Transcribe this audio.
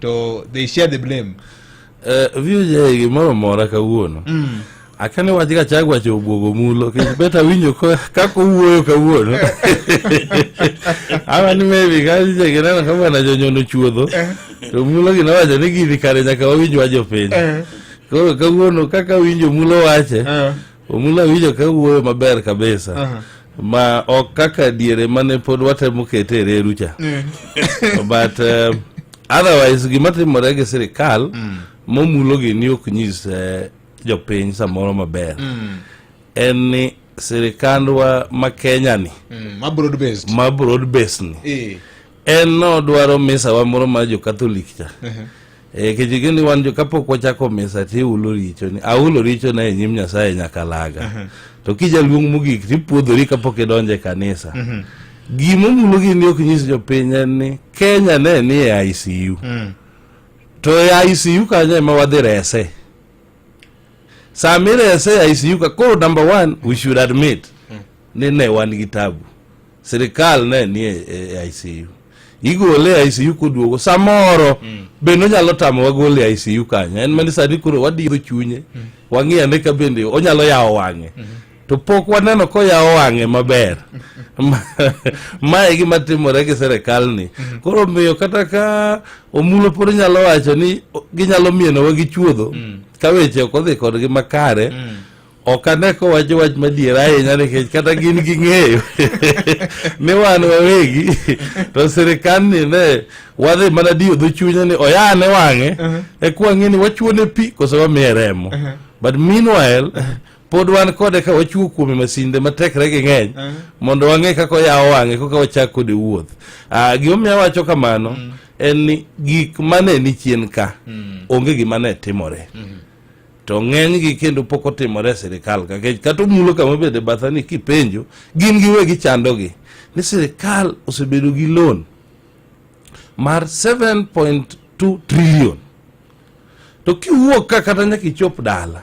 to they share the blame eh, view gimoro mora kawuono mm. akane wach ga chag wacho obwogo mulo kendo bet awinjo kaka owuoyo kawuono ama ni maybe kajagineno ka bwana jonyono chuodho eh. to mulo gina wacho ni gini kare nyaka wawinj wajo piny eh. koro kawuono kaka winjo mulo wache eh. Omula winjo ka wuoyo maber kabisa. Uh -huh. ma ok kaka diere mane pod watemo kete e reru cha mm. but uh, otherwise gima timore gi sirikal mm. momulo gini ok nyis uh, jopiny samoro maber mm. en ni sirikandwa ma kenya ni mm. ma broad based ni e. en nodwaro misawa moro mar jokatholik cha e, kechike ni wan kapok wachako misa tiulo richoni aulo richona e nyim nyasaye nyaka laga to kijaluong mogik tipuodhori kapok idonjo e kanisa gima omulo gini ok nyis jopiny en ni kenya ne ni e icu mm. to e icu kanyo ema wadhi rese sama irese e icu ka koro number one we should admit mm. ni ne wan gi tabu sirikal ne ni e, e ICU igole e ICU koduogo samoro mm. bende onyalo tamo wagole e ICU kanyo en mani sani koro wadidho chunye mm. wang'iye ane ka bende onyalo yawo wang'e mm -hmm. to pok waneno koyawo wang'e maber mae e gima timore gi serikal ni mhm. koro omiyo kata ka omulo pod nyalo wacho ni ginyalo mienowa gi chuodho mm. ka weche ok odhi kodgi makare mm. ok ane kowacho wach madier ahinya nikech kata gin gi ng'eyo ni wan wawegi to sirikandni ne wadhi mana diyo dho chunya ni oyane wang'e uh-huh. e kwang'e ni wachuone pi kose wamiye remo uh-huh. but meanwhile uh-huh. pod wan kode ka wachuo kuome masinde matekre gi ng'eny uh-huh. mondo wang'e kaka oyawo wang'e koka wachak kode wuoth ah, gimomiyo awacho kamano mm. en ni gik mane ni chien ka mm. onge gima ne timore mm. to ng'enygi kendo pok otimore e sirikal kakech kata omulo kama bede batha ni kipenjo gin giwegi chandogi ni sirikal osebedo gi loan mar 7.2 trillion to kiwuok ka kata nyaka ichop dala